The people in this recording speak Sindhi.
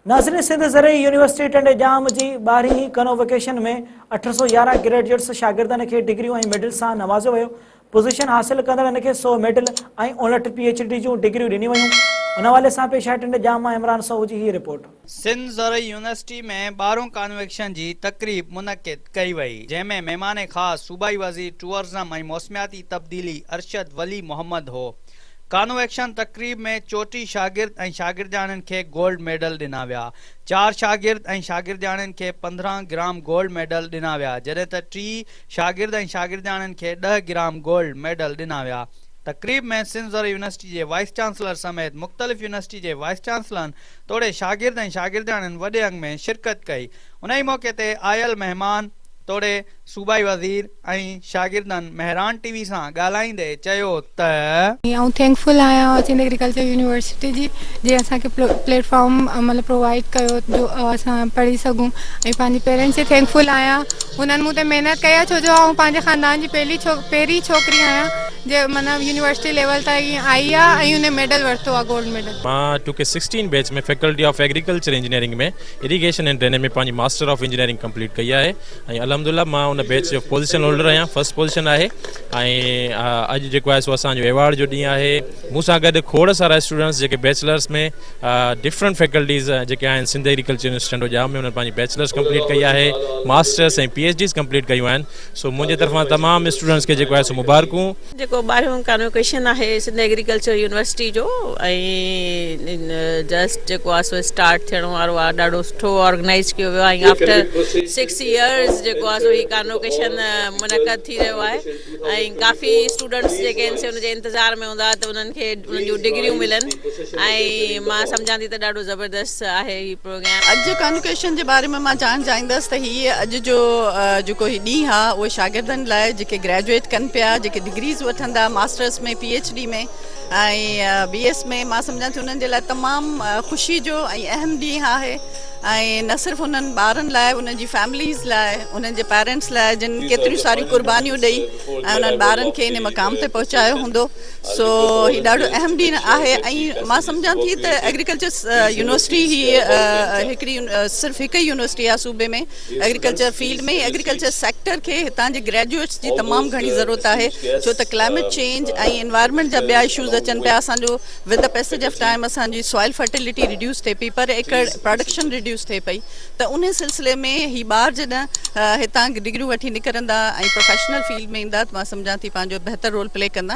ناظرين سنڌ زرعي يونيورسٽي ٽنڊي ڄام جي ٻارهين هي ڪنووڪيشن ۾ اٺ سؤ يارهن گريڊجيٽس شاگردن کي ڊگريون ۽ ميڊل سان نوازيو ويو پوزيشن حاصل ڪندڙن کي سؤ ميڊل ۽ اڻلٺ پي ايڇ ڊي جون ڊگريون ڏنيون ويون ان حوالي سان پيش آهي ٽنڊي ڄام مان عمران سوهو جي هي رپورٽ. سنڌ زرعي يونيورسٽي ۾ ٻارهون ڪانووڪيشن جي تقريب منعقد ڪئي وئي جنهن ۾ مهمان خاص صوبائي وزير ٽوئرزم ۽ موسمياتي تبديلي ارشد ولي محمد هو ڪانووڪيشن تقريب ۾ چوٽيهه شاگرد ۽ شاگردياڻين کي گولڊ ميڊل ڏنا ويا. چار شاگرد ۽ شاگردياڻين کي پندرهن گرام گولڊ ميڊل ڏنا ويا جڏهن ته ٽي شاگرد ۽ شاگردياڻين کي ڏهه گرام گولڊ ميڊل ڏنا ويا. تقريب ۾ سنڌ زرعي يونيورسٽي جي وائيس چانسلر سميت مختلف يونيورسٽي جي وائيس چانسلرن توڙي شاگرد ۽ شاگردياڻين وڏي انگ ۾ شرڪت ڪئي. انهي موقعي تي آيل مهمان توڙي صوبائي وزير ۽ شاگردن مهراڻ ٽي وي سان ڳالهائيندي چيو ته. آئون ٿينڪ فل آهيان سنڌ ايگريڪلچر يونيورسٽي جي جنهن اسان کي پليٽ فارم مطلب پرووائيڊ ڪيو جو اسان پڙهي سگهون ۽ پنهنجي پيرينٽس جي ٿينڪ فل آهيان هنن مون تي محنت ڪئي آهي ڇو جو آئون پنهنجي خاندان جي پهرين ڇوڪري آهيان جي مطلب يونيورسٽي ليول تائين آئي آهي ۽ هن ميڊل ورتو آهي گولڊ ميڊل. مان two K sixteen batch ۾ faculty of agriculture engineering ۾ irrigation and drainage ۾ پنهنجي ماسٽر آف انجنيئرنگ ڪمپليٽ ڪئي آهي. ۽ الحمد لله مان ان بيچ جو پوزيشن هولڊر آهيان فرسٽ پوزيشن آهي ۽ اڄ جيڪو آهي سو اسان جو ايوارڊ جو ڏينهن آهي مون سان گڏ کوڙ سارا اسٽوڊنٽس جيڪي بيچلرس ۾ ڊفرنٽ فيڪلٽيز جيڪي آهن سنڌ ايگريڪلچر يونيورسٽي ٽنڊو ڄام ۾ انهن پنهنجي بيچلرس ڪمپليٽ ڪئي آهي masters ۽ P H Ds complete ڪيون آهن سو منهنجي طرفان تمام اسٽوڊنٽس کي جيڪو آهي سو مبارڪون جيڪو ٻارهيون ڪانو ڪيشن آهي سنڌ ايگريڪلچر يونيورسٽي جو ۽ جسٽ جيڪو آهي سو اسٽارٽ ٿيڻ وارو آهي ڏاڍو سٺو آرگنائز ڪيو ويو آهي آفٽر سڪس ايئرز جيڪو آهي سو هي ڪانو ڪيشن منعقد ٿي رهيو آهي ۽ ڪافي اسٽوڊنٽس جيڪي آهن سي ان جي انتظار ۾ هوندا ته انهن کي انهن جون ڊگريون ملن ۽ مان سمجهان ٿي ته ڏاڍو زبردست آهي هي اڄ جي ڪانوڪيشن جي باري ۾ مان جاڻ جائيندس ته هي اڄ جو جيڪو هي ڏينهن آهي اهو شاگردن لاء جيڪي گريجوئيٽ ڪن پيا جيڪي ڊگريز وٺندا masters ۾ P H D ۾ ۽ B S ۾ مان سمجهان ٿي انهن جي لاء تمام خوشي جو ۽ اهم ڏينهن آهي ۽ نه صرف انهن ٻارن لاء انهن جي فيمليز لاء انهن جي پيرنٽس لاء جن ڪيتريون ساريون قربانيون ڏئي ۽ انهن ٻارن کي ان مقام تي پهچايو هوندو سو هي ڏاڍو اهم ڏينهن آهي ۽ مان سمجهان ٿي ته ايگريڪلچر يونيورسٽي هي هڪڙي صرف هڪ ئي يونيورسٽي آهي صوبي ۾ ايگريڪلچر فيلڊ ۾ ايگريڪلچر سيڪٽر کي هتان جي گريجوئيٽس جي تمام گهڻي ضرورت آهي ڇو ته ڪلائميٽ چينج ۽ انوائرمينٽ جا ٻيا اشوز اچن پيا اسان جو with the passage of time اسان جي سوائل فرٽيلٽي ريڊيوس ٿئي پئي پر ايڪڙ پراڊڪشن ريڊيوس ٿئي پئي ته ان سلسلي ۾ هي ٻار جڏهن هتان ڊگريون وٺي نڪرندا ۽ پروفيشنل فيلڊ ۾ ايندا ته مان سمجهان ٿي پنهنجو بهتر رول پلي ڪندا.